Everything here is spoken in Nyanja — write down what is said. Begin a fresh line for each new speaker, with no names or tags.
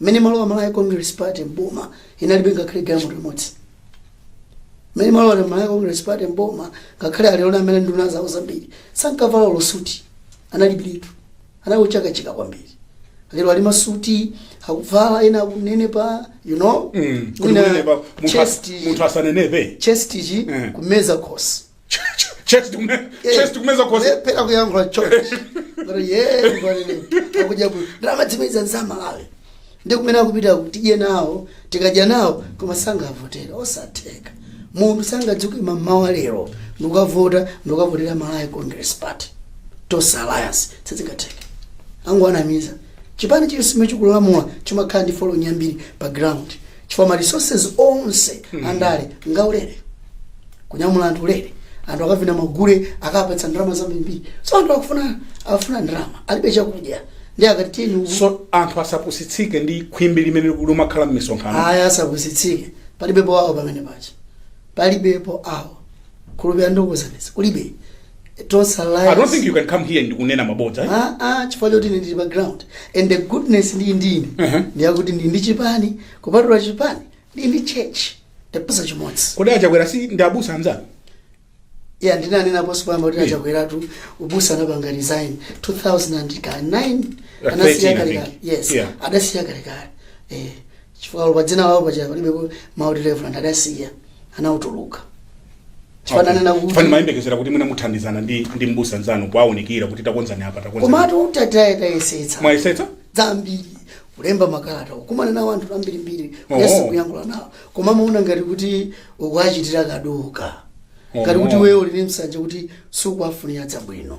mmene imalowa malawi congress party m'boma inalibe ngakhale galimoto limodzi mmene imalowa malawi congress party m'boma ngakhale alipo amene nduna zawo zambiri sankavala olo suti analibiretu, anali okachika kwambiri lero ali ndi masuti akuvala ena akunenepa you know Mm, kuti Mwina kunenepa, munthu as- chest- munthu asanenepe chest ichi Mm. kumeza khosi chest kume Eh, chest kumeza kwa kulephera kuyankhula chest kuti ye ndikunena akudya bwino ndalama akumeza zamalawi ndi kumene akupita tidye nawo tikadya nawo koma sangavotera osatheka munthu sangadzuke mmawa lero n'kukavota n'kukavotera malawi congress party tonse alliance sizingatheke akungowanamiza chipani chilichonse chikulamula chimakhala ndi following yambiri pa ground chifukwa ma resources onse ali ndi ngaulere kunyamula anthu ulere anthu akavina magule akuwapatsa ndalama zambirimbiri so anthu akufuna akufuna ndalama alibe chakudya ndi akati tiyeni uku- so anthu asapusitsike ndi khwimbi limene limakhala m'misonkhano ayi asapusitsike palibepo awo pamene paja palibepo awo khulupirira ndikuuzanitsa kulibe Tonse I don't alliance. think you can come here ndi kunena mabodza. eh? Ah, ah, chifukwa choti ine ndili pa ground and the goodness ndi ndine Uh-huh. ndi yakuti ndi ndi chipani kupatula chipani ndi ndi church ndi mbusa chimodzi Kodi a Chakwera si ndi abusa anzanu? ya ndinanenaponso pompa kuti Yeah. a Chakweratu ubusa anapanga resign 2009 Uh, anasiya 13, I kalekale think. yes Yeah. adasiya kalekale eh chifukwa pa dzina lawo paja palibe mawu oti reverend adasiya anatuluka chifukwa ndimanena kuti ine ndimayembekezera kuti mwina muthandizana ndi ndi mbusa mnzanu kuwaunikira kuti takonzani apa takonzani komatu titatayesetsa tayesetsa zambiri kulemba makalata kukumana nawo anthu ambirimbiri Oh. kuyesa kuyankhula nawo koma amaona ngati kuti ukuachitira kaduka ngati kuti Oh. iweyo uli ndi nsanje kuti sukuwafunira zabwino